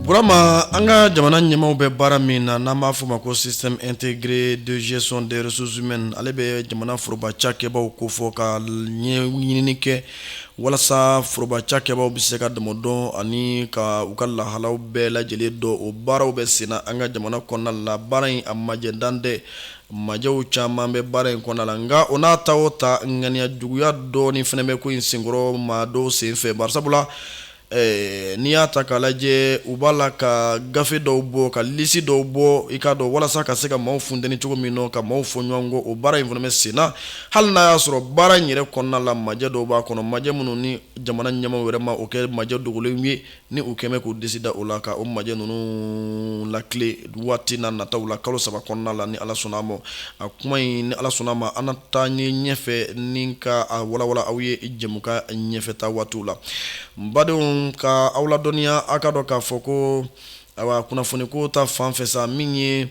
Burama an ka jamana ɲɛmaaw bɛ baara min na n'an b'a fɔ ma ko système intégré de gestion des ressources humaines ale bɛ jamana foroba cakɛbaaw ko fɔ ka ɲɛɲinini kɛ walasa foroba cakɛbaaw bɛ se ka dɔn ani ka u ka lahalaw bɛɛ lajɛlen dɔn o baaraw bɛ sen na an ka jamana kɔnɔna la baara in a majɛ dan tɛ Majɛw caman bɛ baara in kɔnɔna la nka o n'a ta o ta ŋaniya juguya dɔɔnin fana bɛ ko in senkɔrɔ maa dɔw sen fɛ bari sabula ɛɛ, n'i y'a ta k'a lajɛ u b'a la ka gafe dɔw bɔ ka lisi dɔw bɔ i k'a dɔn walasa ka se ka maaw funteni cogo min nɔ ka maaw fɔ ɲɔgɔn kɔ o baara in fana bɛ sen na hali n'a y'a sɔrɔ baara in yɛrɛ kɔnɔna la majɛ dɔw b'a kɔnɔ majɛ minnu ni jamana ɲɛmaaw yɛrɛ ma o kɛ majɛ dogolenw ye ni u kɛmɛ k'u disi da o la ka o majɛ ninnu lakile waati na nataw la kalo saba kɔnɔna la ni ala sɔnna ma a kuma in ni ala sɔnna ma an n'a ta ye ɲɛfɛ ni ka a walawala aw ye jɛmukan ɲɛfɛtaa waatiw la badenw ka aw ladɔnniya aw k'a dɔn k'a fɔ ko awa kunnafoni ko ta fan fɛ sa min ye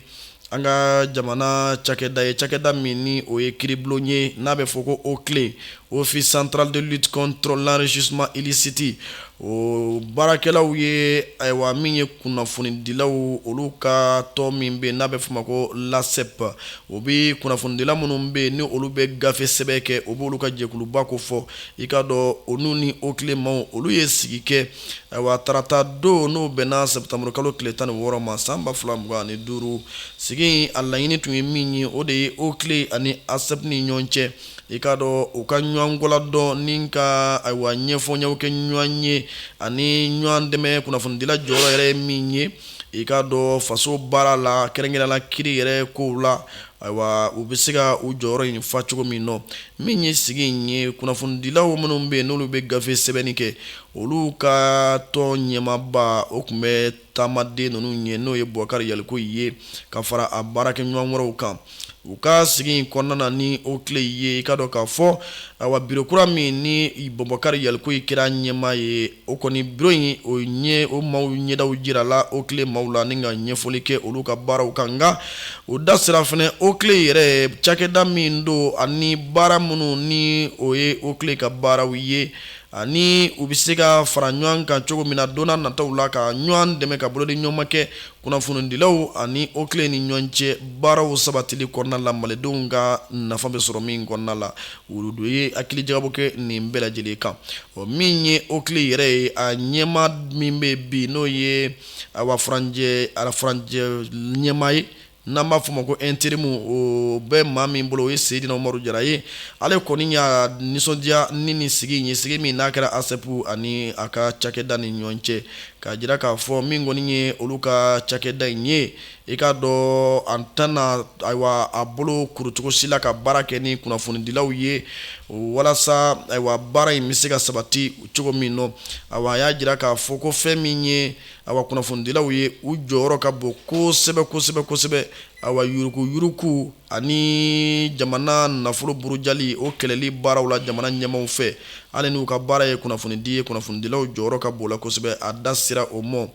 an ka jamana cakɛda ye cakɛda min ni o ye kiiribulon ye n'a bɛ fɔ ko OCLEI Office central de lutte contre l'enrichissement illicite o baarakɛlaw ye ayiwa min ye kunnafonidilaw olu ka tɔn min bɛ n'a bɛ fɔ ma ko l'ASSEP o bɛ kunnafonidila minnu bɛ yen ni olu bɛ gafe sɛbɛn kɛ o b'olu ka jɛkuluba ko fɔ i k'a dɔn olu ni OCLEI maaw olu ye sigi kɛ awa tarata don n'o bɛnna sɛtanburu kalo tile tan ni wɔɔrɔ ma san ba fila mugan ani duuru sigi a laɲini tun ye min ye o de ye OCLEI ani ASSEP ni ɲɔgɔn cɛ i k'a dɔn u ka ɲɔgɔnkɔla dɔn ni ka ayiwa ɲɛfɔyaw kɛ ɲɔgɔn ye ani ɲɔgɔn dɛmɛ kunnafonidila jɔyɔrɔ yɛrɛ ye min ye i k'a dɔn faso baara la kɛrɛnkɛrɛnnenya la kiiri yɛrɛ ko la ayiwa u bɛ se ka u jɔyɔrɔ in fa cogo min na min ye sigi in ye kunnafonidilaw minnu bɛ yen n'olu bɛ gafe sɛbɛnni kɛ Olu ka tɔn ɲɛmaaba o tun bɛ taamaden ninnu ɲɛ n'o ye Bubakari Yalikuye ye ka fara a baarakɛɲɔgɔn wɛrɛw kan u ka sigi in kɔnɔna na ni OCLEI ye i k'a dɔn k'a fɔ awa biro kura min ni Bubakari Yalikuye kɛra ɲɛmaa ye o kɔni biro in o ɲɛ o maaw ɲɛdaw jirala OCLEI maaw la ni ka ɲɛfɔli kɛ olu ka baaraw kan nka u da sera fana OCLEI yɛrɛ cakɛda min don ani baara minnu ni o ye OCLEI ka baaraw ye ani u bɛ se ka fara ɲɔgɔn kan cogo min na don nataw la ka ɲɔgɔn dɛmɛ ka bolodiɲɔgɔnma kɛ kunnafonidilaw ani OCLEI ni ɲɔgɔn cɛ baaraw sabatili kɔnɔna la malidenw ka nafa bɛ sɔrɔ min kɔnɔna la olu tun ye hakilijagabɔ kɛ nin bɛɛ lajɛlen kan o min ye OCLEI yɛrɛ ye a ɲɛmaa min bɛ bi n'o ye awa furancɛ a furancɛ ɲɛmaa ye n'an b'a fɔ o ma ko interimu o bɛ maa min bolo o ye Seydina Umaru Jara ye ale kɔni y'a nisɔndiya ni nin sigi in ye sigi min n'a kɛra ASEP ani a ka cakɛda ni ɲɔgɔn cɛ k'a jira k'a fɔ min kɔni ye olu ka cakɛda in ye i k'a dɔn a tɛna ayiwa a bolo kuru cogo si la ka baara kɛ ni kunnafonidilaw ye walasa ayiwa baara in bɛ se ka sabati cogo min nɔ ayiwa a y'a jira k'a fɔ ko fɛn min ye ayiwa kunnafonidilaw ye u jɔyɔrɔ ka bon kosɛbɛ kosɛbɛ ayiwa yuruguyurugu ani jamana nafolo burujali o kɛlɛli baaraw la jamana ɲɛmaaw fɛ hali n'u ka baara ye kunnafonidi ye kunnafonidilaw jɔyɔrɔ ka bon la kosɛbɛ a da sera o ma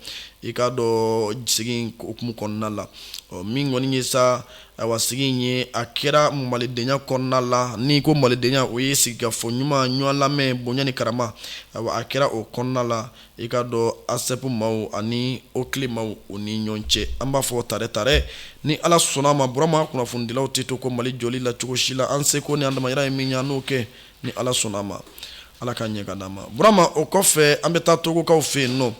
i k'a dɔn sigi in hukumu kɔnɔna la min kɔni ye sa ayiwa sigi in ye a kɛra malidenya kɔnɔna la n'i ko malidenya o ye sigikafɔ ɲuman ɲɔgɔn lamɛn bonya ni karama a kɛra o kɔnɔna la i k'a dɔn ASEP maaw ani OCLEI maaw ni ɲɔgɔn cɛ an b'a fɔ tare tare ni ala sɔnna a ma burama kunnafonidilaw tɛ to ko mali jɔli la cogo si la an seko ni an damayira ye min ye an n'o kɛ ni ala sɔnna a ma ala k'a ɲɛ k'a d'an ma burama o kɔfɛ an bɛ taa togokaw fɛ yen nɔ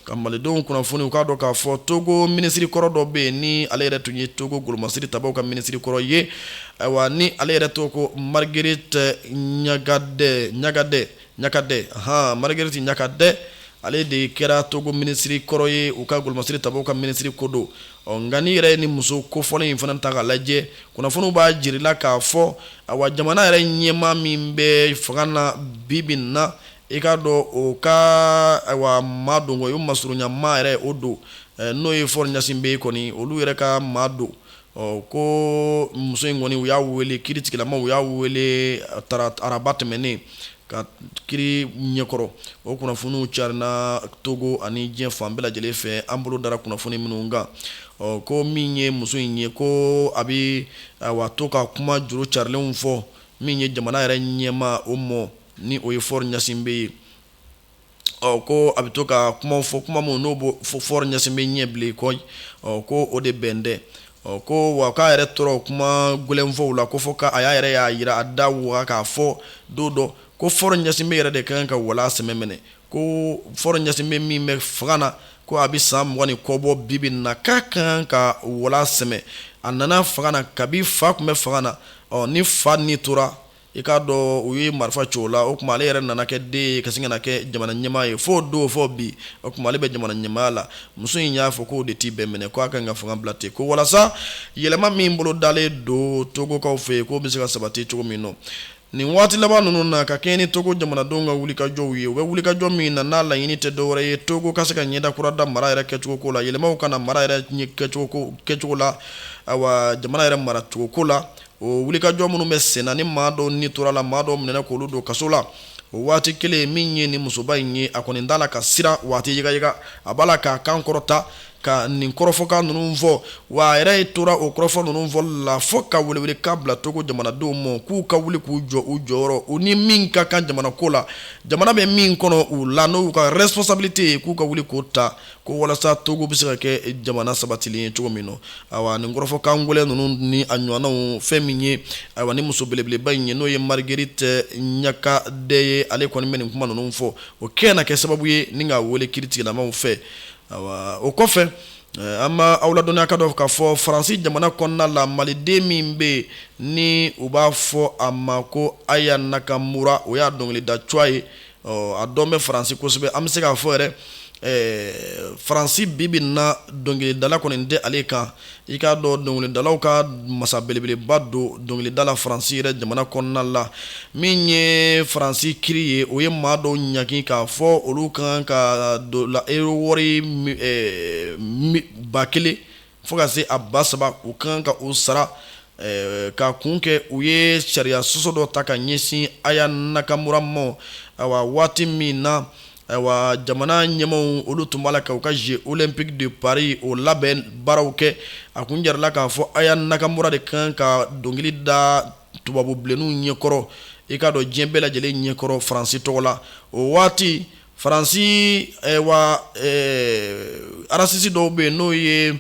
ka malidenw kunnafoni u k'a dɔn k'a fɔ togo minisiri kɔrɔ dɔ bɛ yen ni ale yɛrɛ tun ye togo golomasiri tabaw ka minisiri kɔrɔ ye ayiwa ni ale yɛrɛ tɔgɔ ko Marguerite Gnakadé Gnakadé ahan Marguerite Gnakadé ale de kɛra Togo minisiri kɔrɔ ye u ka golomasiri tabaw ka minisiri ko don, ɔ nka n'i yɛrɛ ye nin muso kofɔlen in fana ta k'a lajɛ, kunnafoniw b'a jirila k'a fɔ, awa, jamana yɛrɛ ɲɛmaa min bɛ fanga na bi bi in na, i k'a dɔn o ka awa maa don kɔni, o masurunya maa yɛrɛ o don, n'o ye Faure Gnassingbé ye kɔni, olu yɛrɛ ka maa don. ɔ ko muso in kɔni u y'a wele kiri tigilamaw u y'a wele araba tɛmɛnen ka kiri ɲɛkɔrɔ o kunnafoniw carina togo ani diɲɛ fan bɛɛ lajɛlen fɛ an bolo dara kunnafoni minnu kan ɔ ko min ye muso in ye ko a bɛ awa to ka kuma juru carilenw fɔ min ye jamana yɛrɛ ɲɛmaa o mɔ ni o ye Faure Gnassingbé ye ko a bɛ to ka kuma fɔ kuma min n'o bɛ Faure Gnassingbé ɲɛ bilen kɔyi ko o de bɛn dɛ ɔ ko wa k'a yɛrɛ tora o kuma gɛlɛnfɔw la ko fɔ k'a y'a yɛrɛ y'a jira a da waga k'a fɔ don dɔ ko Faure Gnassingbé yɛrɛ de ka kan ka wala sɛmɛ minɛ ko Faure Gnassingbé min bɛ fanga na ko a bɛ san mugan ni kɔ bɔ bi bi in na k'a ka kan ka wala sɛmɛ a nana fanga na kabi fa tun bɛ fanga na ɔ ni fa ni tora i k'a dɔn u ye marifa ci o la o tuma ale yɛrɛ nana kɛ den ye ka sin ka na kɛ jamana ɲɛmaa ye f'o don fo bi o tuma ale bɛ jamana ɲɛmaaya la muso in y'a fɔ k'o de t'i bɛn minɛ k'a ka kan ka fanga bila ten ko walasa yɛlɛma min bolo dalen don togokaw fɛ yen k'o bɛ se ka sabati cogo min nɔ nin waati laban ninnu na ka kɛ ni togo jamanadenw ka wulikajɔw ye u bɛ wulikajɔ min na n'a laɲini tɛ dɔwɛrɛ ye togo ka se ka ɲɛda kura da mara yɛrɛ kɛcogo ko la yɛlɛmaw ka na mara yɛrɛ ɲɛ kɛcogo ko kɛcogo la awa jamana yɛrɛ maracogo ko la o wulikajɔ minnu bɛ senna ni maa dɔw ni tora la maa dɔw minɛna k'olu don kaso la o waati kelen min ye ni musoba in ye a kɔni t'a la ka siran waati yigayiga a b'a la k'a kan kɔrɔta ka nin kɔrɔfɔkan ninnu fɔ wa a yɛrɛ ye tora o kɔrɔfɔ ninnu fɔ la fo ka welewelekan bila togo jamanadenw ma k'u ka wuli k'u jɔ u jɔyɔrɔ u ni min ka kan jamana ko la jamana bɛ min kɔnɔ u la n'u ka responsabilité ye k'u ka wuli k'o ta ko walasa togo bɛ se ka kɛ jamana sabatilen ye cogo min na awa nin kɔrɔfɔkan gɛlɛn ninnu ni a ɲɔgɔnnaw fɛn min ye awa ni muso belebeleba in ye n'o ye marguerite gnakadé ye ale kɔni bɛ nin kuma ninnu fɔ o kɛ na kɛ sababu ye ni ka weele kiritigɛlamaw fɛ o kɔfɛ an ma aw ladɔnniya k'a dɔn k'a fɔ faransi jamana kɔnɔna la maliden min bɛ yen ni u b'a fɔ a ma ko aya nakamura o y'a dɔnkilida tɔgɔ ye ɔ a dɔn bɛ faransi kosɛbɛ an bɛ se k'a fɔ yɛrɛ faransi bibi in na dɔnkilidala kɔni tɛ ale kan i k'a dɔn dɔnkilidalaw ka masa belebeleba don dɔnkilida la faransi yɛrɛ jamana kɔnɔna la min ye faransi kiri ye o ye maa dɔw ɲangi k'a fɔ olu kan ka don la euro wari ba kelen fo ka se a ba saba u kan ka o sara eh, ka kun kɛ u ye sariya sɔsɔ dɔ ta ka ɲɛsin aya nakamura ma awa waati min na awa jamana ɲɛmaw olu tun b'a la ka u ka jeux olympiques de paris o labɛn baaraw kɛ a kun jirala k'a fɔ aya nakamura de kan ka dɔnkili da tubabu bilenninw ɲɛkɔrɔ i k'a dɔn diɲɛ bɛɛ lajɛlen ɲɛkɔrɔ faransi tɔgɔ la o waati Faransi arasisi dɔw bɛ yen n'o ye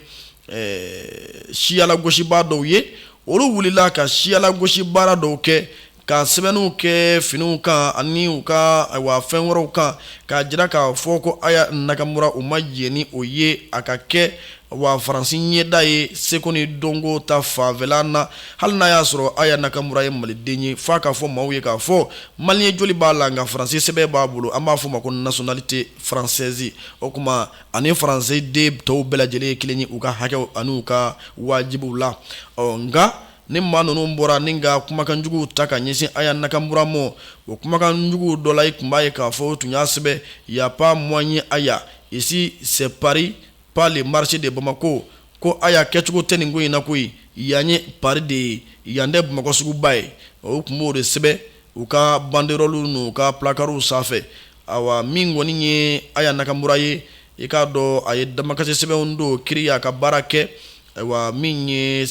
siyalagosibaa dɔw ye olu wulila ka siyalagosi baara dɔw kɛ ka sɛbɛnniw kɛ finiw kan ani u ka fɛn wɛrɛw kan k'a jira k'a fɔ ko aya nakamura u ma jɛn ni o ye a ka kɛ wa faransi ɲɛda ye seko ni dɔnko ta fanfɛla na hali n'a y'a sɔrɔ aya nakamura ye maliden ye f'a ka fɔ maaw ye k'a fɔ Malien joli b'a la nka faransi sɛbɛn b'a bolo an b'a fɔ o ma ko nationalité française o tuma a ni faransi den tɔw bɛɛ lajɛlen ye kelen ye u ka hakɛw ani u ka wajibiw la ɔ nka ni maa ninnu bɔra ni ka kumakanjuguw ta ka ɲɛsin aya nakamura ma o kumakanjuguw dɔ la i tun b'a ye k'a fɔ u tun y'a sɛbɛn y a pas moyen aya ici c'est paris pas le marché de Bamako ko Aya kɛcogo tɛ nin ko in na koyi yan ye Paris de ye yan tɛ Bamakɔ suguba ye u tun b'o de sɛbɛn u ka banderɔluw n'u ka placards sanfɛ awa min kɔni ye Aya Nakamura ye i k'a dɔn a ye damakasi sɛbɛnw don kiri y'a ka baara kɛ ayiwa min ye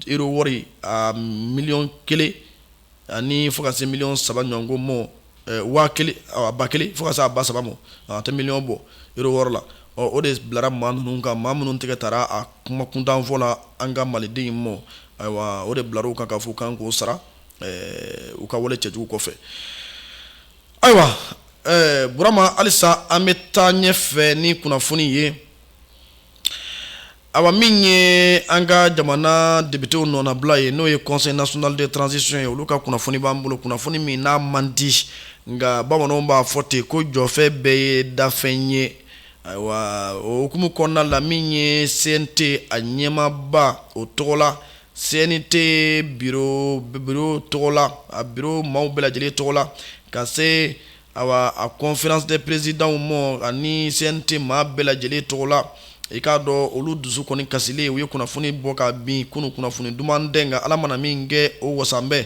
euro wɔri a miliyɔn kelen ani fo ka se miliyɔn saba ɲɔgɔn ko mɔ waa kelen a ba kelen fo ka se a ba saba ma a tɛ miliyɔn bɔ euro wɔri la o de bilara maa ninnu kan maa minnu tɛgɛ taara a kuma kuntanfɔ la an ka maliden in ma ayiwa o de bilara u kan k'a fɔ u kan k'o sara u ka wale cɛjugu kɔfɛ ayiwa burama halisa an bɛ taa ɲɛfɛ ni kunnafoni ye awa min ye an ka jamana depitew nɔnabila ye n'o ye Conseil national de transition ye olu ka kunnafoni b'an bolo kunnafoni min n'a man di nka bamananw b'a fɔ ten ko jɔfɛn bɛɛ ye dafɛn ye ayiwa o hukumu kɔnɔna la min ye CNT a ɲɛmaaba o tɔgɔ la CNT biro tɔgɔ la a biro maaw bɛɛ lajɛlen tɔgɔ la ka se Ayiwa a conférence des présidentw ma ani CNT maa bɛɛ lajɛlen tɔgɔ la i k'a dɔn olu dusu kɔni kasilen u ye kunnafoni bɔ kabini kunun kunnafoni duman tɛ nka ala mana min kɛ o wasanbɛ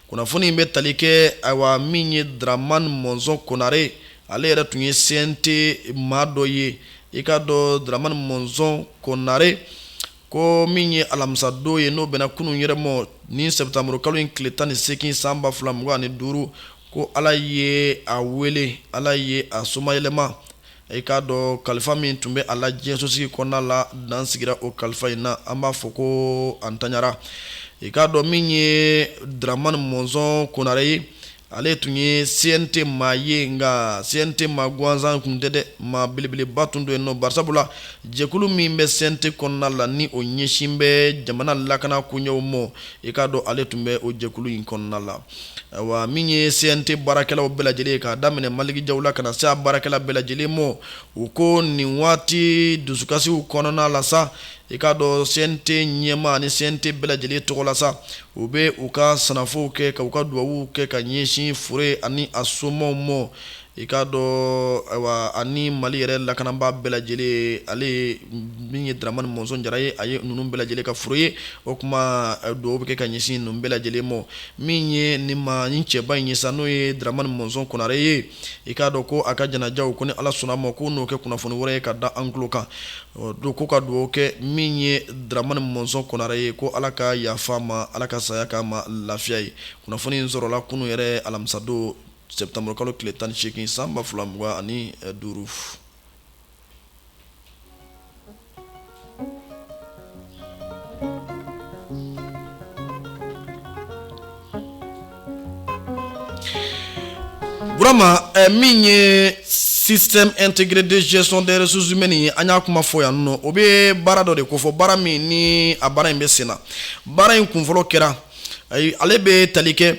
kunnafoni in bɛ tali kɛ ayiwa min ye dramani mɔnzɔn konare ale yɛrɛ tun ye CNT maa dɔ ye i k'a dɔn dramani mɔnzɔn konare ko min ye alamisadon ye n'o bɛnna kunun yɛrɛ ma ni sɛtanburu kalo in tile tan ni segin san ba fila mugan ani duuru ko ala ye a wele ala ye a somayɛlɛma i k'a dɔn kalifa min tun bɛ a la diɲɛsosigi kɔnɔna la dan sigira o kalifa in na an b'a fɔ ko a ntanyara i k'a dɔn min ye dramani mɔnzɔn konare ye ale tun ye CNT maa ye nka CNT maa gansan tun tɛ dɛ maa belebeleba tun don yen nɔ bari sabula jɛkulu min bɛ CNT kɔnɔna la ni o ɲɛsin bɛ jamana lakana koɲɛw ma i k'a dɔn ale tun bɛ o jɛkulu in kɔnɔna la wa min ye CNT baarakɛlaw bɛɛ lajɛlen k'a daminɛ maliki jaw la ka na se a baarakɛla bɛɛ lajɛlen ma u ko nin waati dusukasiw kɔnɔna la sa i k'a dɔn CNT ɲɛmaa ani CNT bɛɛ lajɛlen tɔgɔ la sa u bɛ u ka sangafow kɛ ka u ka dugawuw kɛ ka ɲɛsin fure ani a somaw mɔ i k'a dɔn awa ani mali yɛrɛ lakanabaa bɛɛ lajɛlen ale min ye dramani mɔnzɔn jara ye a ye ninnu bɛɛ lajɛlen ka fure ye o tuma dugawuw bɛ kɛ ka ɲɛsin ninnu bɛɛ lajɛlen ma min ye nin mali cɛba in ye sa n'o ye dramani mɔnzɔn konare ye i k'a dɔn ko a ka janajaw ko ni ala sɔnna ma ko n'o kɛ kunnafoni wɛrɛ ye ka da an tulo kan don ko ka dugawu kɛ min ye dramani mɔnzɔn konare ye ko ala ka yafa a ma ala ka saya k'a ma lafiya ye kunnafoni in sɔrɔla kunun yɛrɛ alamisadon sɛtanburukalo tile tan ni segin san ba fila mugan ani duuru Burama min ye système intégré de gestion des ressources humaines ye an y'a kuma fɔ yan nɔ o bɛ baara dɔ de kofɔ baara min ni a baara in bɛ sen na baara in kunfɔlɔ kɛra ale bɛ tali kɛ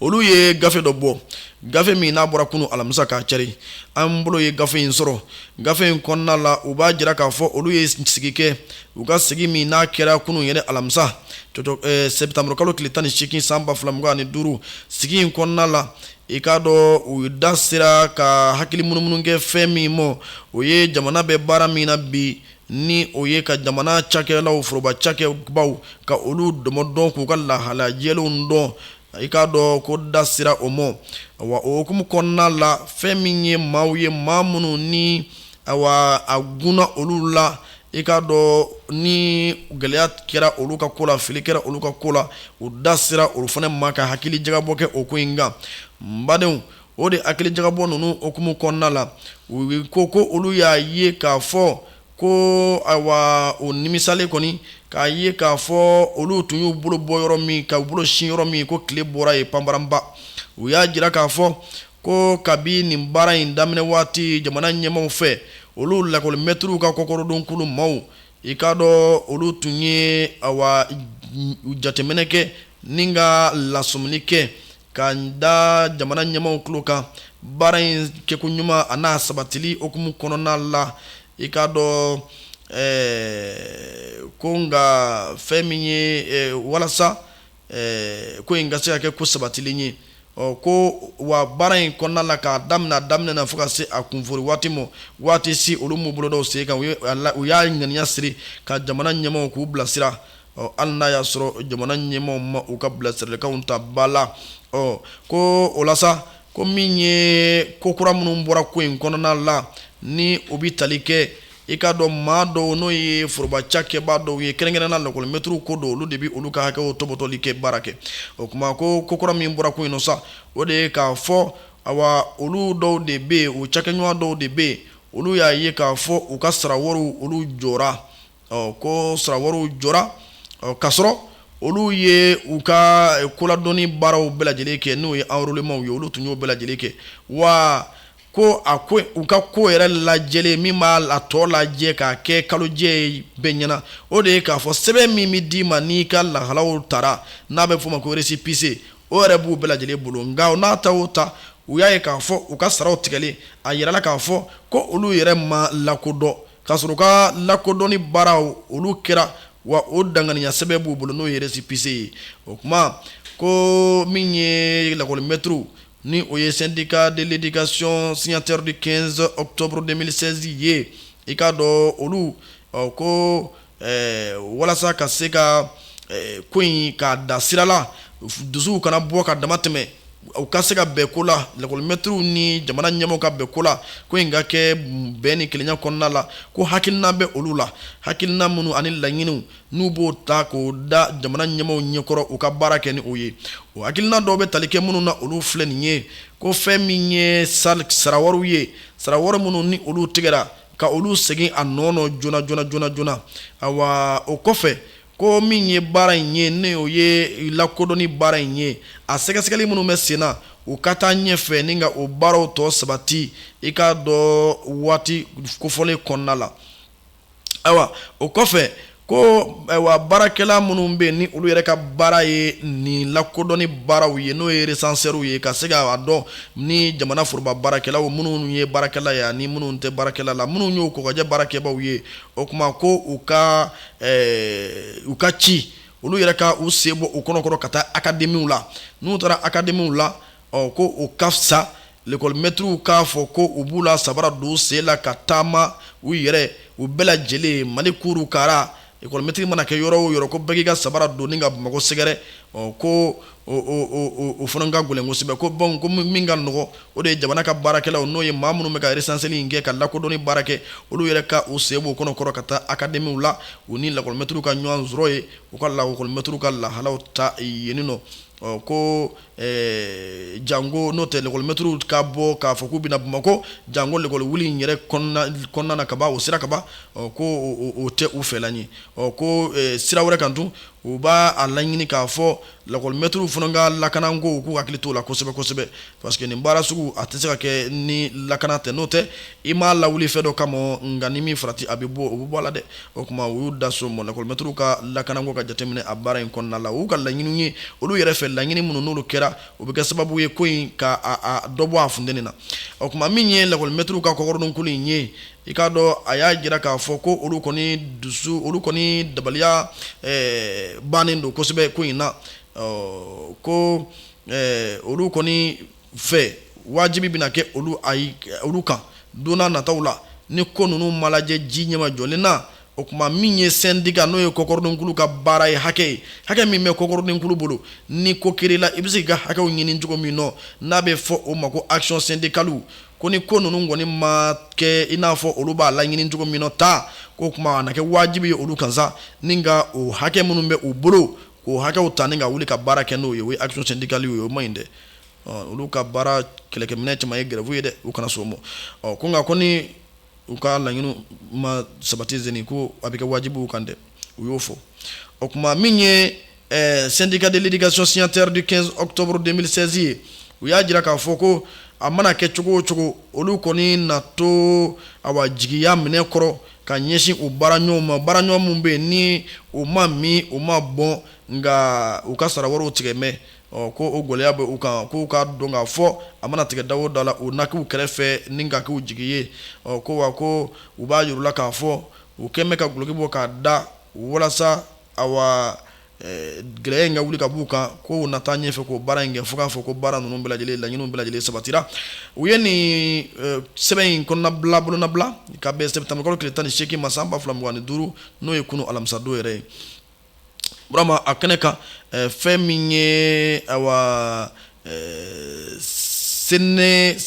olu ye gafe dɔ bɔ gafe min n'a bɔra kunun alamisa k'a cari an bolo ye gafe in sɔrɔ gafe in kɔnɔna la u b'a jira k'a fɔ olu ye sigi kɛ u ka sigi min n'a kɛra kunun yɛrɛ alamisa eh, sɛtanburukalo tile tan ni seegin san ba fila mugan ani duuru sigi in kɔnɔna la i k'a dɔn u da sera ka hakili munumunu kɛ fɛn min ma o ye jamana bɛ baara min na bi ni o ye ka jamana cakɛlaw foroba cakɛbaw ka olu dɔmɔ dɔn k'u ka lahala jɛlenw dɔn i k'a dɔn ko da sera o ma wa o hukumu kɔnɔna la fɛn min ye maaw ye maa minnu ni awa a gunna olu la i k'a dɔn ni gɛlɛya kɛra olu ka ko la fili kɛra olu ka ko la u da sera olu fana ma ka hakili jagabɔ kɛ o ko in kan n badenw o de hakili jagabɔ ninnu hukumu kɔnɔna la u ko ko olu y'a ye k'a fɔ ko awa o nimisalen kɔni k'a ye k'a fɔ olu tun y'u bolo bɔ yɔrɔ min k'u bolo sin yɔrɔ min ko tile bɔra ye panparanba u y'a jira k'a fɔ ko kabi nin baara in daminɛ waati jamana ɲɛmaw fɛ olu lakɔlimɛturuw ka kɔkɔrɔdonkulu maaw i k'a dɔn olu tun ye awa jateminɛ kɛ ni ka lasɔmini kɛ Ka da jamana ɲɛmaw tulo kan baara in kɛko ɲuman a n'a sabatili hukumu kɔnɔna la i k'a dɔn ko nka fɛn min ye walasa ko in ka se ka kɛ ko sabatilen ye ɔ ko wa baara in kɔnɔna la k'a daminɛ a daminɛ na fo ka se a kunfori waati ma waati si olu m'u bolo da u sen kan u y'a ŋaniya siri ka jamana ɲɛmaw k'u bilasira ɔ hali n'a y'a sɔrɔ jamana ɲɛmaw ma u ka bilasiralikanw ta ba la ɔ ko o la sa ko min ye ko kura minnu bɔra ko in kɔnɔna la ni o bɛ tali kɛ i k'a dɔn maa dɔw n'o ye foroba cakɛbaa dɔw ye kɛrɛnkɛrɛnna lakɔlimɛtiriw ko don olu de bɛ olu ka hakɛw tɔpɔtɔli kɛ baara kɛ o tuma ko ko kura min bɔra ko in nɔ sa o de ye k'a fɔ awa olu dɔw de bɛ yen u cakɛɲɔgɔn dɔw de bɛ yen olu y'a ye k'a fɔ u ka sara wariw olu jɔra ɔ ko sarawariw jɔra ɔ k'a sɔrɔ olu ye u ka koladɔnni baaraw bɛɛ lajɛlen kɛ n'o ye enrôlements ye olu tun y'o bɛɛ lajɛlen kɛ wa ko a ko u ka ko yɛrɛ lajɛlen min b'a la tɔ lajɛ ka kɛ kalojɛ bɛɛ ɲɛ na o de ye k'a fɔ sɛbɛn min bɛ d'i ma n'i ka lahalaw tara n'a bɛ f'a ma ko récépissé o yɛrɛ b'u bɛɛ lajɛlen bolo nka n'a ta o ta u y'a ye k'a fɔ u ka saraw tigɛlen a yirala k'a fɔ ko olu yɛrɛ ma lakodɔn K'a sɔrɔ u ka lakodɔnni baaraw, olu kɛra wa o danganiya sɛbɛn b'u bolo n'o ye récépissé ye. O kuma ko min ye lakɔli mɛtiriw ni o ye syndicat de l'éducation signataire du 15 octobre 2016 ye, i k'a dɔn olu, ɔ ko ɛɛ walasa ka se ka ko in k'a da sirala dusuw kana bɔ ka dama tɛmɛ u ka se ka bɛn ko la lakɔlimɛtiriw ni jamana ɲɛmaaw ka bɛn ko la ko in ka kɛ bɛn ni kelenya kɔnɔna la ko hakilina bɛ olu la hakilina minnu ani laɲiniw n'u b'o ta k'o da jamana ɲɛmaaw ɲɛkɔrɔ u ka baara kɛ ni o ye o hakilina dɔw bɛ tali kɛ minnu na olu filɛ nin ye ko fɛn min ye sarawariw ye sarawari minnu ni olu tigɛra ka olu segin a nɔ nɔ joona joona joona joona awa o kɔfɛ ko min ye baara in ye ni o ye lakodɔnni baara in ye a sɛgɛsɛgɛli minnu bɛ sen na u ka taa ɲɛfɛ ni ka o baaraw tɔ sabati i k'a dɔn waati kofɔlen kɔnɔna la ayiwa o kɔfɛ ko ayiwa baarakɛla minnu bɛ ni olu yɛrɛ ka baara ye nin lakodɔnni baaraw ye n'o ye recenseurs ye ka se k'a dɔn ni jamana foroba baarakɛlaw minnu ye baarakɛla ye ani minnu tɛ baarakɛla la minnu y'o kokajɛ baarakɛbaaw ye o kuma ko u ka u ka ci olu yɛrɛ ka u sen bɔ u kɔnɔkɔrɔ ka taa akademiw la n'u taara akademiw la ɔ ko o ka fisa lekɔlimɛtiriw k'a fɔ ko u b'u la sabara don u sen la ka taama u yɛrɛ u bɛɛ lajɛlen mali kuuru kara lekɔlimɛtiri mana kɛ yɔrɔ o yɔrɔ ko bɛɛ k'i ka sabara don ni ka bamakɔ sɛgɛrɛ ɔ ko o fana ka gɛlɛn kosɛbɛ ko bawo ko min ka nɔgɔ o de ye jamana ka baarakɛlaw n'o ye maa minnu bɛ ka recenseli in kɛ ka lakodɔnni baara kɛ olu yɛrɛ ka u sen bɔ u kɔnɔkɔrɔ ka taa akademiw la u ni lakɔlimɛtiriw ka ɲɔgɔn sɔrɔ yen u ka lakɔlimɛtiriw ka lahalaw ta yen nɔ ɔ ko ɛɛ janko n'o tɛ lekɔli mɛturuw ka bɔ k'a fɔ k'u bɛ na bamakɔ janko lekɔli wuli in yɛrɛ kɔnɔna na kaban o sira kaban ɔ ko o tɛ u fɛla ye ɔ ko sira wɛrɛ kan tun u b'a a laɲini k'a fɔ lakɔli mɛturuw fana ka lakana ko k'u hakili t'o la kosɛbɛ kosɛbɛ parce que nin baara sugu a tɛ se ka kɛ ni lakana tɛ n'o tɛ i m'a lawuli fɛn dɔ kama nka ni min farati a bɛ bɔ o bɛ bɔ a la dɛ O tuma u y'u da so mɔ lakɔlimɛtiriw ka lakanako ka jate minɛ a baara in kɔnɔna la u ka laɲini ye olu yɛrɛ fɛ laɲini minnu n'olu kɛra o bɛ kɛ sababu ye ko in ka dɔ bɔ a funteni na o tuma min ye lakɔlimɛtiriw ka kɔkɔrɔdonkulu in ye i k'a dɔn a y'a jira k'a fɔ ko olu kɔni dusu olu kɔni dabaliya bannen don kosɛbɛ ko in na ko olu kɔni fɛ wajibi bɛna kɛ olu ayi olu kan don nataw la ni ko ninnu ma lajɛ ji ɲɛma jɔlen na o tuma min ye syndicat n'o ye kɔkɔrɔdonkulu ka baara ye hakɛ ye hakɛ min bɛ kɔkɔrɔdonkulu bolo ni ko kɛra i la i bɛ se k'i ka hakɛw ɲini cogo min na n'a bɛ fɔ o ma ko action syndicale ko ni ko ninnu kɔni ma kɛ i n'a fɔ olu b'a laɲini cogo min na k'o tuma a na kɛ wajibi ye olu kan ni ka o hakɛ minnu bɛ u bolo k'o hakɛw ta ni ka wuli ka baara kɛ n'o ye o ye action syndicale ye o ma ɲi dɛ olu ka baara kɛlɛkɛminɛn caman ye grève ye dɛ u kana s'o ma ɔ ko nka ko ni u ka laɲini ma sabati zi ko a bɛ kɛ wajibi u kan dɛ u y'o fɔ o tuma min ye syndicat de l'éducation signataire du quinze octobre deux mille seize ye u y'a jira k'a fɔ ko a mana kɛ cogo o cogo olu kɔni na to awa jigiya minɛ kɔrɔ ka ɲɛsin u baaraɲɔgɔnw ma baaraɲɔgɔn minnu bɛ yen ni u ma min u ma bɔ nka u ka sarawariw tigɛ mɛn Ɔ ko o gɛlɛya bɛ u kan k'u k'a dɔn k'a fɔ a mana tigɛ da o da la u na k'u kɛrɛfɛ ni ka k'u jigi ye ɔ ko wa ko u b'a jir'u la k'a fɔ u kɛlen bɛ ka dulɔki bɔ k'a da walasa awa gɛlɛya in ka wuli ka b'u kan ko u na taa ɲɛfɛ k'o baara in kɛ fo k'a fɔ ko baara ninnu bɛɛ lajɛlen laɲiniw bɛɛ lajɛlen sabatira u ye nin sɛbɛn in kɔnɔna bolonɔbila ka bɛn sɛtanburukalo tile tan ni seegin ma san ba fila mugan ni duuru n'o ye kunun alamisadon yɛrɛ ye a kɛnɛ kan fɛn min ye awa SYNEFCT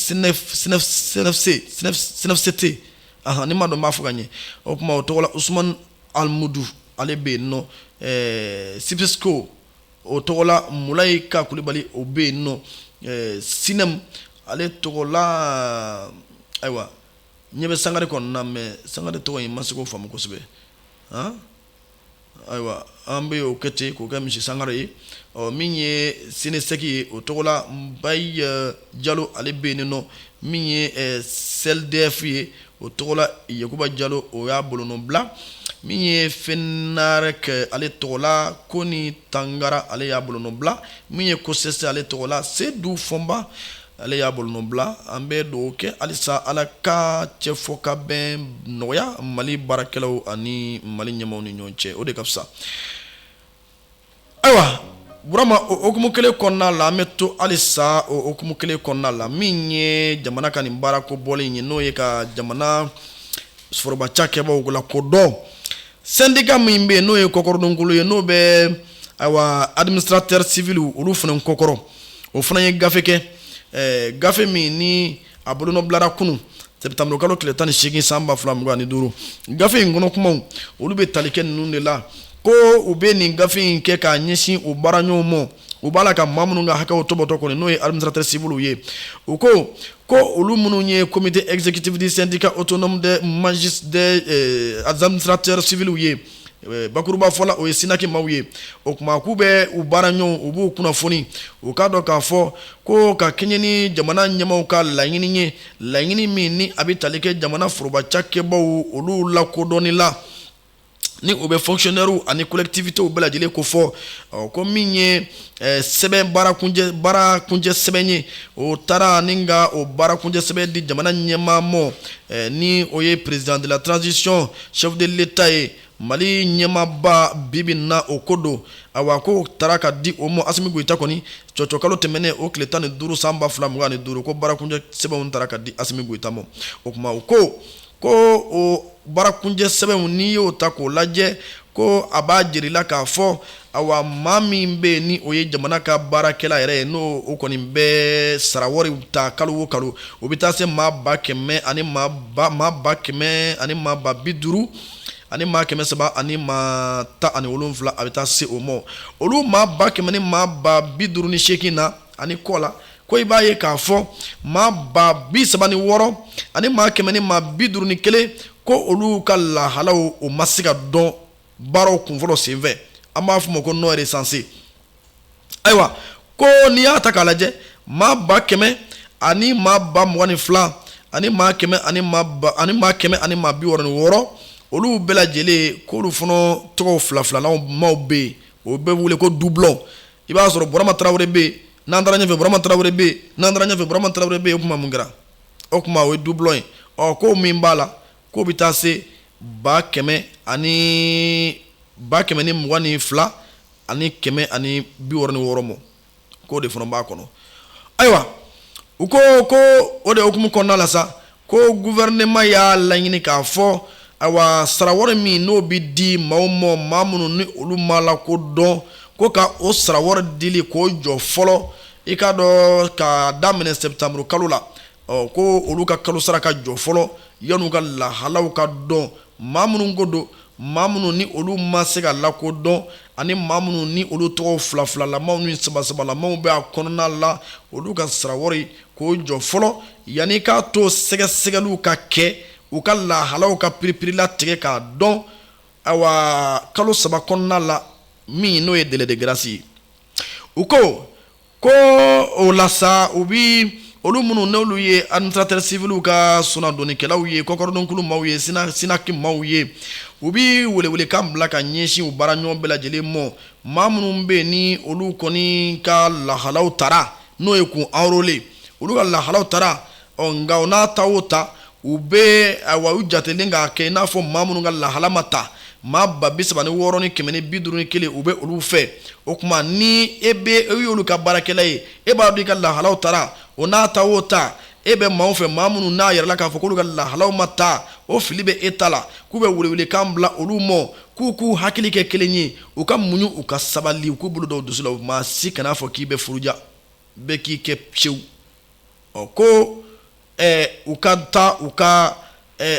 a ni ma dɔn b'a fɔ ka ɲɛ o tuma o tɔgɔ la Usumani Alimudu ale bɛ yen nɔ SYPESCO o tɔgɔ la Mulayi Ka Kulubali o bɛ yen nɔ SYNEM ale tɔgɔ la ayiwa ɲɛ bɛ Sangare kɔnɔna mais Sangare tɔgɔ in ma se k'o faamu kosɛbɛ Ayiwa an bɛ o kɛ ten k'o kɛ monsieur Sangare ye ɔ min ye SYNESEC ye o tɔgɔ la Mbaye Jalo ale bɛ yen nɔ min ye SYLDEF ye o tɔgɔ la Yakuba Jalo o y'a bolonɔ bila min ye FENAREC ale tɔgɔ la Koni Tangara ale y'a bolonɔ bila min ye COSES ale tɔgɔ la Sedu Fɔnba ale y'a bolonɔ bila an bɛ dugawu kɛ halisa ala ka cɛ fɔ ka bɛn nɔgɔya mali baarakɛlaw ani mali ɲɛmaaw ni ɲɔgɔn cɛ o de ka fisa ayiwa burama o hukumu kelen kɔnɔna la an bɛ to halisa o hukumu kelen kɔnɔna la min ye jamana ka nin baarako bɔlen ye n'o ye ka jamana foroba cakɛbaw lakodɔn sɛndika min bɛ yen n'o ye kɔkɔrɔdonkulu ye n'o bɛ ayiwa administrateur civilw olu fana kɔkɔrɔ o fana ye gafe kɛ eh, gafe min ni a bolonɔbilara kunun sɛtanburukalo tile tan ni seegin san ba fila mugan ni duuru gafe in kɔnɔ kumaw olu bɛ tali kɛ ninnu de la ko u bɛ nin gafe in kɛ k'a ɲɛsin u baaraɲɔgɔn ma u b'a la ka maa minnu ka hakɛw tɔpɔtɔ kɔni n'o ye administrateur civilw ye u ko ko olu minnu ye comité exécutif du syndicat autonome des administrateurs civilw ye bakurubafɔ la o ye sinaki maaw ye o kuma k'u bɛ u baaraɲɔgɔnw u b'u kunnafoni u k'a dɔn k'a fɔ ko ka kɛɲɛ ni jamana ɲɛmaaw ka laɲini ye laɲini min ni a bɛ tali kɛ jamana forobacakɛbaw olu lakodɔnni la ni o bɛ fonctionnairew ani collectivitéw bɛɛ lajɛlen kofɔ ɔ ko min ye sɛbɛn baarakuncɛ sɛbɛn ye o taara ani ka o baarakuncɛ sɛbɛn di jamana ɲɛmaa ma ni o ye président de la transition chef de l'état ye mali ɲɛmaaba bibi in na o ko don awa ko taara ka di o ma asimi goyita kɔni cɔcɔkalo tɛmɛnen o tile tan ni duuru san ba fila mugan ni duuru ko baarakuncɛ sɛbɛnw taara ka di asimi goyita ma o kuma o ko ko o baarakuncɛ sɛbɛnw n'i y'o ta k'o lajɛ ko a b'a jirala k'a fɔ awa maa min bɛ ni o ye jamana ka baarakɛla yɛrɛ ye n'o o kɔni bɛ sara wari ta kalo o kalo o bɛ taa se maa ba kɛmɛ ani maa ba kɛmɛ ani maa ba bi duuru ani maa kɛmɛ saba ani maa tan ani wolonwula a bɛ taa se o ma olu maa ba kɛmɛ ni maa ba bi duuru ni seegin na ani kɔ la ko i b'a ye k'a fɔ maa ba bi saba ni wɔɔrɔ ani maa kɛmɛ ni maa bi duuru ni kelen ko olu ka lahalaw o ma se ka dɔn baaraw kunfɔlɔ senfɛ an b'a f'o ma ko non recensé ayiwa ko n'i y'a ta k'a lajɛ maa ba kɛmɛ ani maa ba mugan ni fila ani ani maa kɛmɛ ani maa bi wɔɔrɔ ni wɔɔrɔ olu bɛɛ lajɛlen k'olu fana tɔgɔ fila-filalen maaw bɛ yen o bɛ wele ko doublon i b'a sɔrɔ burama tarawele bɛ yen n'an taara ɲɛfɛ burama tarawele bɛ yen n'an taara ɲɛfɛ burama tarawele bɛ yen o kuma mun kɛra o kuma o ye doublon ye ɔ ko min b'a la k'o bɛ taa se ba kɛmɛ ani ba kɛmɛ ni mugan ni fila ani kɛmɛ ani bi wɔɔrɔ ni wɔɔrɔ ma k'o de fana b'a kɔnɔ ayiwa u ko ko o de hukumu kɔnɔna la sa ko gouvernement y'a laɲini k'a fɔ awa sara wari min n'o bɛ di maaw ma maa minnu ni olu ma lakodɔn ko ka o sara wari dili k'o jɔ fɔlɔ i k'a dɔn ka daminɛ septembre kalo la ɔ ko olu ka kalo sara ka jɔ fɔlɔ yan'u ka lahalaw ka dɔn maa minnu ko don maa minnu ni olu ma se ka lakodɔn ani maa minnu ni olu tɔgɔ fila filalamaw ni saba sabalamaw bɛ a kɔnɔna la olu ka sara wari k'o jɔ fɔlɔ yanni k'a to sɛgɛsɛgɛliw ka kɛ u ka lahalaw ka piripirilatigɛ k'a dɔn awa kalo saba kɔnɔna la min n'o ye délai de grâce ye u ko ko o la sa u bɛ olu minnu n'olu ye administrateur civil ka sunadonnikɛlaw ye kɔkɔrɔdonkulu maaw ye sinaki maaw ye u bɛ welewelekan bila ka ɲɛsin u baara ɲɔgɔn bɛɛ lajɛlen ma maa minnu bɛ ni olu kɔni ka lahalaw tara n'o ye k'u enrôler olu ka lahalaw tara nka o n'a ta o ta u bɛ awa u jatelen k'a kɛ i n'a fɔ maa minnu ka lahala ma ta maa ba bi saba ni wɔɔrɔ ni kɛmɛ ni bi duuru ni kelen u bɛ olu fɛ o kuma ni e bɛ e y'olu ka baarakɛla ye e b'a dɔn i ka lahalaw tara o n'a ta o ta e bɛ maaw fɛ maa minnu n'a yirala k'a fɔ k'olu ka lahalaw ma ta o fili bɛ e ta la k'u bɛ welewelekan bila olu ma K'u k'u hakili kɛ kelen ye u ka muɲu u ka sabali u k'u bolo da u dusu la maa si kan'a fɔ k'i bɛ furuja bɛɛ k'i kɛ sewu ɔ ko u ka taa u ka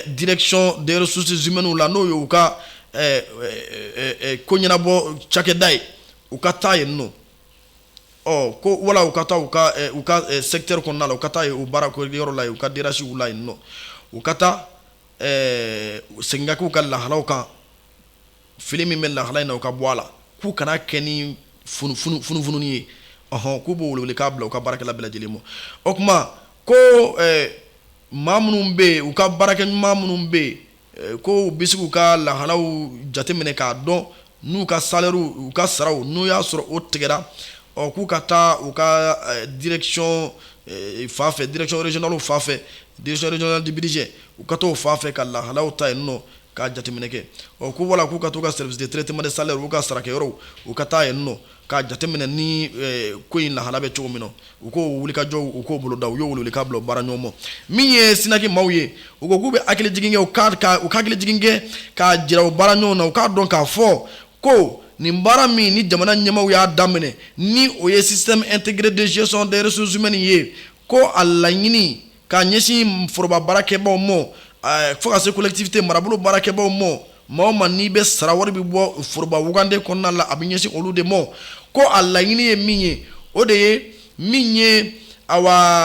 direction des ressources humaines la n'o ye u ka ko ɲɛnabɔ cakɛda ye u ka taa yen nɔ ko wala u ka taa u ka secteur kɔnɔna la u ka taa u baara yɔrɔ la u ka DRHw la yen nɔ u ka taa segin ka k'u ka lahalaw kan fili min bɛ lahala in na o ka bɔ a la k'u kana kɛ ni funufunu ye ɔɔn k'u b'o welewelekan bila u ka baarakɛla bɛɛ lajɛlen ma o kuma ko maa minnu bɛ yen u ka baarakɛ ɲuman minnu bɛ yen ko u bɛ se k'u ka lahalaw jateminɛ k'a dɔn n'u ka salairew u ka saraw n'u y'a sɔrɔ o tigɛra ɔ k'u ka taa u ka eh, direction eh, fan fɛ direction régionale fan fɛ direction régionale du budget u ka t'o fan fɛ ka lahalaw ta yen nɔ k'a jateminɛ kɛ ɔ ko wala k'u ka t'u ka service de traitement de salaire u ka sarakɛyɔrɔw u ka taa yen nɔ k'a jateminɛ ni eh, ko in lahala bɛ cogo min na u k'o wulikajɔ u k'o boloda u y'o welewelekan bila baara ɲɔgɔn ma min ye sinaki maaw ye u ko k'u bɛ hakili jigin kɛ u ka ka u ka hakili jigin kɛ k'a jira u baara ɲɔgɔn na u k'a dɔn k'a fɔ ko nin baara min ni jamana ɲɛmaaw y'a daminɛ ni o ye système intégré de gestion des ressources humaines ye ko a laɲini k'a ɲɛsin foroba baarakɛbaaw ma fo ka se collectivité marabolo baarakɛbaaw ma maa o maa n'i bɛ sara wari bɛ bɔ foroba wagande kɔnɔna la a bɛ ɲɛsin olu de ma ko a laɲini ye min ye o de ye min ye a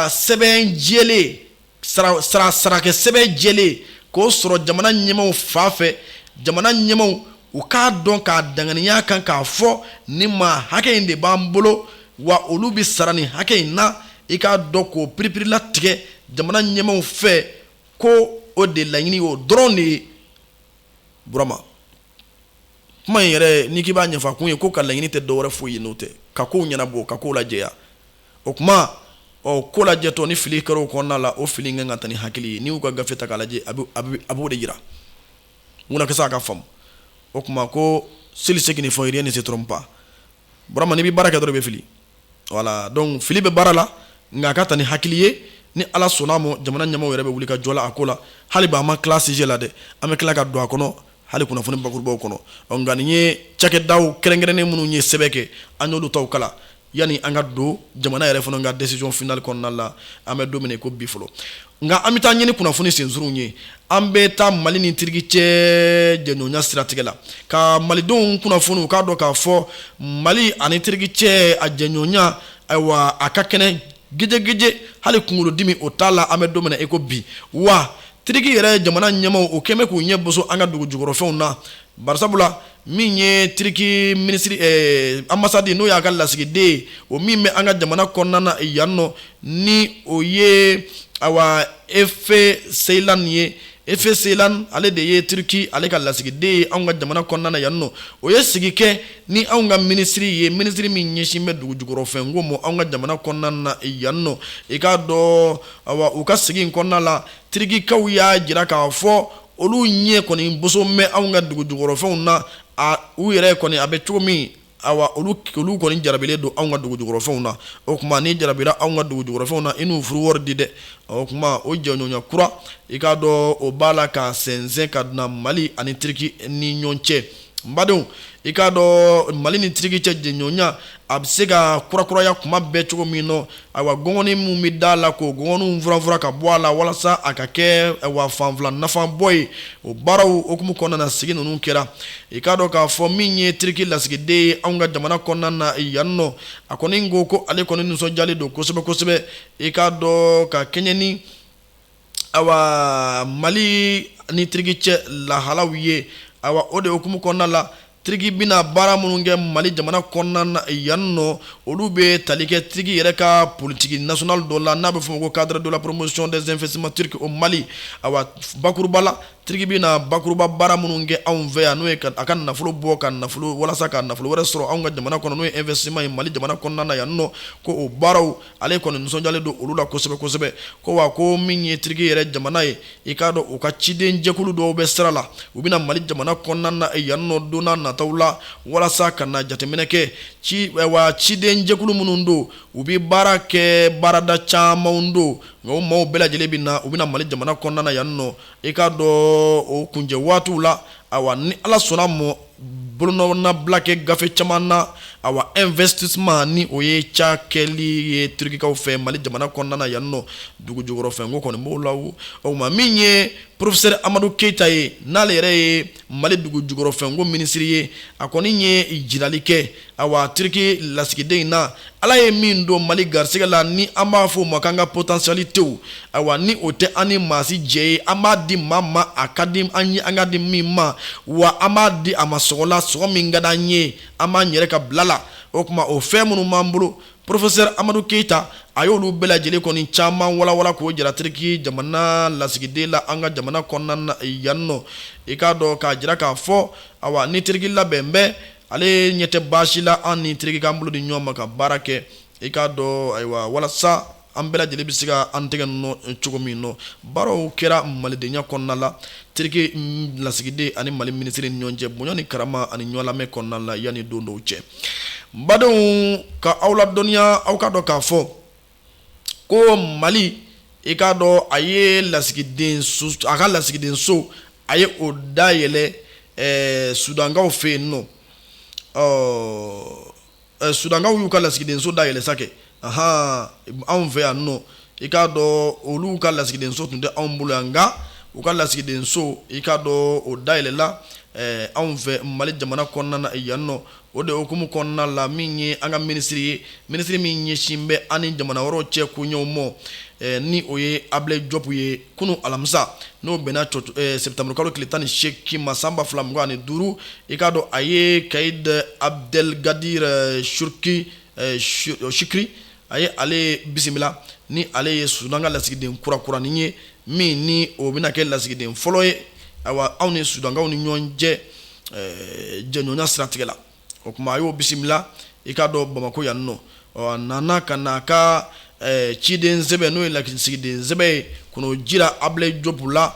sɛbɛn jɛlen sarakɛ sɛbɛn jɛlen k'o sɔrɔ jamana ɲɛmaaw fan fɛ jamana ɲɛmaaw u k'a dɔn k'a danganiya kan k'a fɔ nin maa hakɛ in de b'an bolo wa olu bɛ sara nin hakɛ in na i k'a dɔn k'o piripiri latigɛ jamana ɲɛmaaw fɛ ko o de laɲini o dɔrɔn de ye burama kuma in yɛrɛ n'i k'i b'a ɲɛfɔ a kun ye k'o ka laɲini tɛ dɔwɛrɛ foyi ye n'o tɛ ka kow ɲɛnabɔ ka kow lajɛya o kuma ɔ ko lajɛtɔ ni fili kɛra o kɔnɔna la o fili kan ka ta ni hakili ye n'i y'u ka gafe ta k'a lajɛ a b'o de yira munna kɛ sa ka faamu o kuma ko seuls ceux qui ne font rien ne se trompent pas burama n'i bɛ baara kɛ dɔrɔn i bɛ fili voilà donc fili bɛ baara la nka a ka ta ni hakili ye ni ala sɔnna a ma jamana ɲɛmaaw yɛrɛ bɛ wuli ka jɔ a ko la hali bi an ma tila sujet la dɛ an bɛ tila ka don a kɔnɔ hali kunnafoni bakurubaw kɔnɔ nka nin ye cakɛdaw kɛrɛnkɛrɛnnen minnu ye sɛbɛn kɛ an y'olu taw kalan yanni an ka don jamana yɛrɛ fana ka décision finale kɔnɔna la an bɛ don min na i ko bi fɔlɔ nka an bɛ taa ɲɛ ni kunnafoni sensurunw ye an bɛ taa mali ni tiriki cɛ jɛɲɔgɔnya siratigɛ la ka malidenw kunnafoni u k'a dɔn k'a fɔ mali ani tiriki cɛ a jɛɲɔgɔnya ayiwa a ka kɛnɛ gejegeje hali kunkolodimi o t'a la an bɛ don min na i ko bi wa tiriki yɛrɛ jamana ɲɛmaaw o kɛ mɛ k'u ɲɛ boso an ka dugu jukɔrɔfɛnw na Barisabula min ye tiriki minisiri ambassade n'o y'a ka lasigiden o min bɛ an ka jamana kɔnɔna na yan nɔ ni o ye a Efe Ceylan ye Efe Ceylan ale de ye tiriki ale ka lasigiden ye an ka jamana kɔnɔna na yan nɔ o ye sigi kɛ ni anw ka minisiri ye minisiri min ɲɛsin bɛ dugu jukɔrɔfɛn ko ma an ka jamana kɔnɔna na yan nɔ i k'a dɔn u ka sigi kɔnɔna la tirikikaw y'a jira k'a fɔ olu ɲɛ kɔni boso mɛ anw ka dugu jukɔrɔfɛnw na u yɛrɛ kɔni a bɛ cogo min olu kɔni jarabilen don anw ka dugu jukɔrɔfɛnw na o kuma n'i jarabira anw ka dugu jukɔrɔfɛnw na i n'u furu wari di dɛ o kuma o jɛɲɔgɔnya kura i k'a dɔn o b'a la ka sɛnsɛn ka na mali ani tiriki ni ɲɔgɔn cɛ badenw i k'a dɔn mali ni tiriki cɛ jɛɲɔgɔnya a bɛ se ka kurakuraya kuma bɛɛ cogo min nɔ ayiwa gɔngɔni minnu bɛ da la k'o gɔngɔniw furanfuran ka bɔ a la walasa a ka kɛ awa fanfila nafabɔ ye o baaraw hukumu kɔnɔna na sigi ninnu kɛra i k'a dɔn k'a fɔ min ye tiriki lasigiden ye anw ka jamana kɔnɔna na yan nɔ a kɔni ko ko ale kɔni nisɔndiyalen don kosɛbɛ kosɛbɛ i k'a dɔn ka kɛɲɛ ni ayiwa mali ni tiriki cɛ lahalaw ye o de hukumu kɔnɔna la tiriki bɛna baara minnu kɛ mali jamana kɔnɔna na yan nɔ olu bɛ tali kɛ tiriki yɛrɛ ka politiki nationale dɔ la n'a bɛ fɔ a ma ko cadre de la promotion des investissements turcs au mali awa bakuruba la tiriki bɛ na bakuruba baara minnu kɛ anw fɛ yan n'o ye a ka nafolo bɔ ka nafolo walasa ka nafolo wɛrɛ sɔrɔ an ka jamana kɔnɔ n'o ye investissement ye mali jamana kɔnɔna na yan nɔ ko o baaraw ale kɔni nisɔndiyalen don olu la kosɛbɛ kosɛbɛ ko wa ko min ye tiriki yɛrɛ jamana ye i k'a dɔn u ka ciden jɛkulu dɔw bɛ sira la u bɛna mali jamana kɔnɔna na yannɔ don nataw la walasa ka na jateminɛ kɛ awa ciden jɛkulu minnu don u bɛ baara kɛ baarada caman don nka o maaw bɛɛ lajɛlen bɛ na u bɛna mali jamana kɔnɔna na yannɔ i k'a dɔn o kuncɛ waatiw la awa ni ala sɔnna mɔ Bolonɔnabila kɛ gafe caman na awa investissement ni o ye cakɛli ye turukikaw fɛ mali jamana kɔnɔna na yan nɔ dugu jukɔrɔfɛn ko kɔni b'o la o kuma min ye porofesɛri amadu keyita ye n'ale yɛrɛ ye mali dugu jukɔrɔfɛn ko minisiri ye a kɔni ye jirali kɛ Awa tiriki lasigiden in na ala ye min don mali garisɛgɛ la ni an b'a fɔ o ma k'an ka potentialitéw awa ni o tɛ an ni maa si jɛ ye an b'a di maa ma a ka di an ye an ka di min ma wa an b'a di a ma sɔngɔ la sɔngɔ min ka di an ye an b'an yɛrɛ ka bila la o kuma o fɛn minnu b'an bolo porofesɛri amadu keyita a y'olu bɛɛ lajɛlen kɔni caman walawala k'o jira tiriki jamana lasigiden la an ka jamana kɔnɔna na yan nɔ i k'a dɔn k'a jira k'a fɔ awa ni tiriki labɛn bɛ ale ɲɛ tɛ baasi la an ni tiriki k'an bolo di ɲɔgɔn ma ka baara kɛ i k'a dɔn ayiwa walasa an bɛɛ lajɛlen bɛ se ka an tɛgɛ nɔ cogo min nɔ barow kɛra malidenya kɔnɔna la tiriki lasigiden ani mali minisiri ni ɲɔgɔn cɛ bonya ni karama ani ɲɔgɔn lamɛn kɔnɔna la yanni don dɔw cɛ n badenw ka aw ladɔnniya aw k'a dɔn k'a fɔ ko mali i k'a dɔn a ye lasigiden a ka lasigidenso a ye o da yɛlɛ sudankaw fɛ yen nɔ sudankaw y'u ka lasigidenso da yɛlɛ sa kɛ anw fɛ yan nɔ i k'a dɔn olu ka lasigidenso tun tɛ anw bolo yan nka u ka lasigidenso i k'a dɔn o da yɛlɛla anw fɛ mali jamana kɔnɔna na yan nɔ O de hukumu kɔnɔna la min ye an ka minisiri ye minisiri min ɲɛsin bɛ an ni jamana wɛrɛw cɛ koɲɛw mɔ ni o ye abulayi jɔpu ye kunun alamisa n'o bɛnna sɛtanburukalo tile tan ni seegin ma san ba fila mugan ani duuru i k'a dɔn a ye kayidi abudɛligadiri suruki sukiri a ye ale bisimila ni ale ye sudan ka lasigiden kurakuranin ye min ni o bɛna kɛ lasigiden fɔlɔ ye ayiwa anw ni sudankaw ni ɲɔgɔn cɛ eh, jɛɲɔgɔnya siratigɛ la o tuma a y'o bisimila i k'a dɔn bamako yan nɔ a nana ka na a ka eh, ciden sɛbɛn n'o ye lasigiden sɛbɛn ye k'o jira abulayi jɔpu la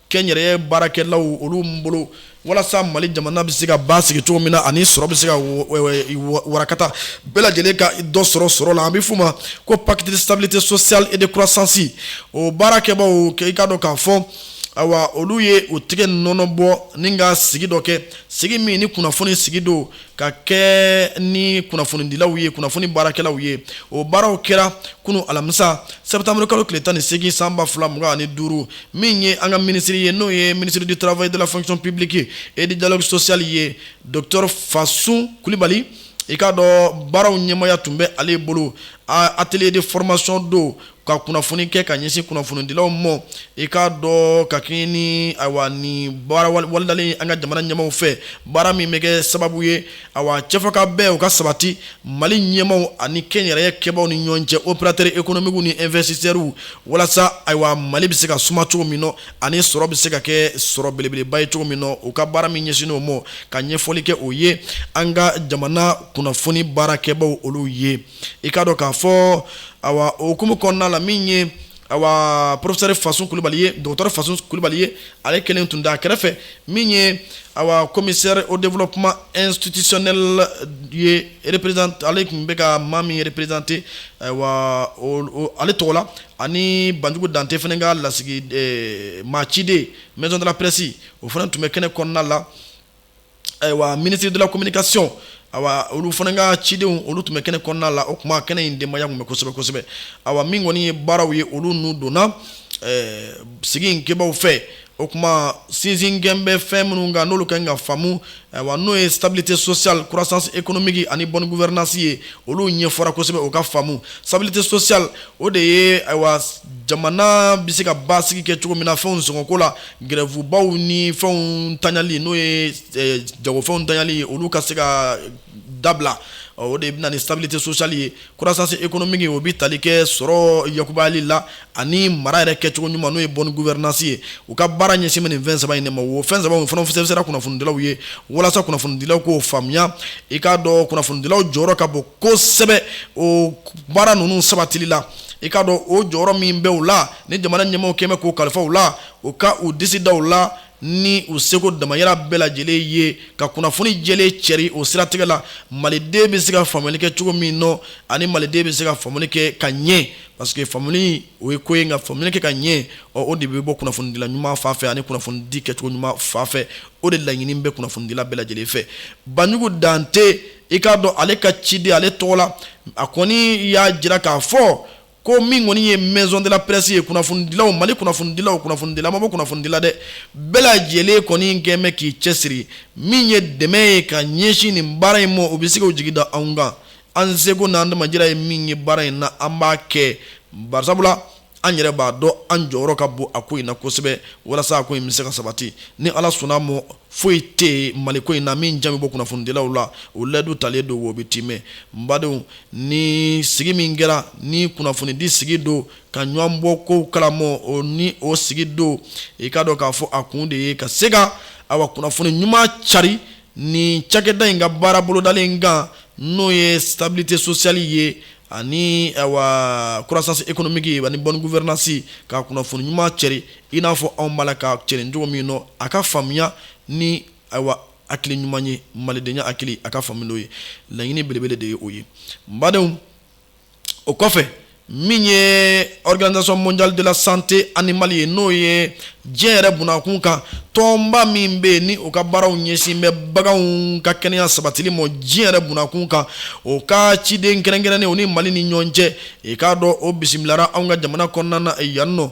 kɛnyɛrɛye baarakɛlaw olu bolo walasa mali jamana bɛ se ka basigi cogo min na ani sɔrɔ bɛ se ka warakata bɛɛ lajɛlen ka dɔ sɔrɔ sɔrɔ la an bɛ f'o ma ko pacte de stabilité sociale et de croissance o baarakɛbaw i k'a dɔn k'a fɔ ayiwa olu ye o tigɛ nɔnɔ bɔ ni ka sigi dɔ kɛ sigi min ni kunnafoni sigi don ka kɛ ni kunnafonidilaw ye kunnafoni baarakɛlaw ye o baaraw kɛra kunu alamisa septembre kalo tile tan ni segin san ba fila mugan ani duuru min ye an ka minisiri ye n'o ye ministre du travail de la fonction publique et du dialogue social ye docteur fasun kulibali i k'a dɔn baaraw ɲɛmaaya tun bɛ ale bolo atelier de formation don ka kunnafoni kɛ ka ɲɛsin kunnafonidilaw mɔ i k'a dɔn ka kɛɲɛ ni ayiwa ni baara bolodalen an ka jamana ɲɛmaaw fɛ baara min bɛ kɛ sababu ye ayiwa cɛfɔka bɛn o ka sabati mali ɲɛmaaw ani kɛnyɛrɛye kɛbaw ni ɲɔgɔn cɛ opérateur économiquew ni investisseurw walasa ayiwa mali bɛ se ka suma cogo min na ani sɔrɔ bɛ se ka kɛ sɔrɔ belebeleba ye cogo min na u ka baara min ɲɛsin o ma ka ɲɛfɔli kɛ o ye an ka jamana kunnafoni baarakɛbaw olu ye i k'a dɔn k'a fɔ awa o hukumu kɔnɔna la min ye awa professeur fasun kulubali ye docteur fasun kulubali ye ale kelen tun da a kɛrɛfɛ min ye awa commissaire au développement institutionnel ye représent ale tun bɛ ka maa min représenter awa ale tɔgɔ la ani banjugu dante fana ka lasigi maa ciden maison de la presse o fana tun bɛ kɛnɛ kɔnɔna la ayiwa ministre de la communication ayiwa olu fana ka cidenw olu tun bɛ kɛnɛ kɔnɔna la o tuma kɛnɛ in denbaya tun bɛ kosɛbɛ kosɛbɛ ayiwa min kɔni ye baaraw ye olu n'u donna eh, sigi in kɛbaaw fɛ o tuma sinsin kɛlen bɛ fɛn minnu kan n'olu kan ka faamu ayiwa n'o ye stabilité sociale croissance économique ani bonne gouvernance ye olu ɲɛfɔra kosɛbɛ u k'a faamu stabilité sociale o de ye ayiwa jamana bɛ se ka basigi kɛ cogo min na fɛnw sɔngɔko la Gɛrɛfubaw ni fɛnw taɲali n'o ye jagofɛnw taɲali olu ka se ka dabila o de bɛna ni stabilité sociale ye croissance économique o bɛ tali kɛ sɔrɔ yakubayali la ani mara yɛrɛ kɛcogo ɲuman n'o ye bonne gouvernance ye u ka baara ɲɛsin bɛ nin fɛn saba in ma o fɛn saba fana fɛnsɛra kunnafonidilaw ye walasa kunnafonidilaw k'o faamuya i k'a dɔn kunnafonidilaw jɔyɔrɔ ka bon kosɛbɛ o baara ninnu sabatili la i k'a dɔn o jɔyɔrɔ min bɛ u la ni jamana ɲɛmaaw kɛn bɛ k'o kalifa u la u ka u disi da u la ni u seko damayira bɛɛ lajɛlen ye ka kunnafoni jɛlen cɛri o siratigɛ la maliden bɛ se ka faamuli kɛ cogo min nɔ ani maliden bɛ se ka faamuli kɛ ka ɲɛ parce que faamuli o ye ko ye nka faamuli kɛ ka ɲɛ o de bɛ bɔ kunnafonidila ɲuman fan fɛ ani kunnafonidi kɛcogo ɲuman fan fɛ o de laɲini bɛ kunnafonidila bɛɛ lajɛlen fɛ banjugu dante i k'a dɔn ale ka ciden ale tɔgɔ la a kɔni y'a jira k'a fɔ ko min kɔni ye maison de la presse ye kunnafonidilaw mali kunnafonidilaw kunnafonidila ma bɔ kunnafonidila dɛ bɛɛ lajɛlen kɔni kɛn bɛ k'i cɛsiri min ye dɛmɛ ye ka ɲɛsin nin baara in ma o bɛ se k'o jigi da anw kan an seko n'an damajira ye min ye baara in na an b'a kɛ barisabula an yɛrɛ b'a dɔn an jɔyɔrɔ ka bon a ko in na kosɛbɛ walasa a ko in bɛ se ka sabati ni ala sɔnna a mɔ foyi tɛ mali ko in na min jan bɛ bɔ kunnafonidilaw la o layidu talen don o bɛ timɛ n badenw ni sigi min kɛra ni kunnafonidi sigi don ka ɲɔgɔn bɔ kow kalamɔ o ni o sigi don i k'a dɔn k'a fɔ a kun de ye ka se ka awa kunnafoni ɲuman cari ni cakɛda in ka baara bolodalen kan n'o ye stabilité sociale ye ani awa croissance économique ani bonne gouvernance ka kunnafoni ɲuman cari i n'a fɔ anw b'a la ka cɛri cogo min nɔ a ka faamuya ni ayiwa hakili ɲuman ye malidenya hakili a ka faamu n'o ye laɲini belebele de ye o ye n badenw o kɔfɛ min ye organisation mondiale de la santé animale ye n'o ye diɲɛ yɛrɛ bunakun kan tɔnba min bɛ yen ni o ka baaraw ɲɛsin bɛ baganw ka kɛnɛya sabatili ma diɲɛ yɛrɛ bunakun kan o ka ciden kɛrɛnkɛrɛnnen o ni Mali ni ɲɔgɔn cɛ i k'a dɔn o bisimilara anw ka jamana kɔnɔna na yan nɔ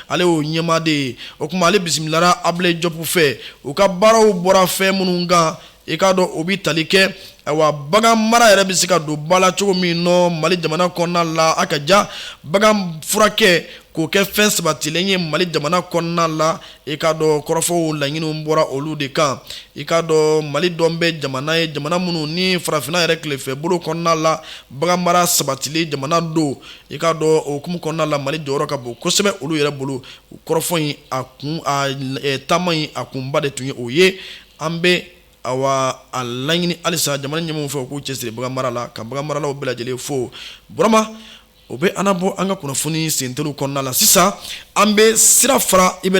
ale y'o ɲɛmaa de ye o kuma ale bisimilara Abilayi Jɔpu fɛ u ka baaraw bɔra fɛn minnu kan i k'a dɔn o bɛ tali kɛ ayiwa bagan mara yɛrɛ bɛ se ka don ba la cogo min nɔ Mali jamana kɔnɔna la a ka ja bagan furakɛ k'o kɛ fɛn sabatilen ye Mali jamana kɔnɔna la i k'a dɔn kɔrɔfɔw laɲiniw bɔra olu de kan i k'a dɔn Mali dɔn bɛ jamana ye jamana minnu ni farafinna yɛrɛ tilefɛbolo kɔnɔna la bagan mara sabatilen jamana don i k'a dɔn o hukumu kɔnɔna la mali jɔyɔrɔ ka bon kosɛbɛ olu yɛrɛ bolo kɔrɔfɔ in a kun taama in a kunba de tun ye o ye an bɛ awa a laɲini halisa jamana ɲɛmaaw fɛ u k'u cɛsiri bagan mara la ka bagan maralaw bɛɛ lajɛlen fo burama o bɛ an nabɔ an ka kunnafoni senteliw kɔnɔna la sisan an bɛ sira fara i bɛ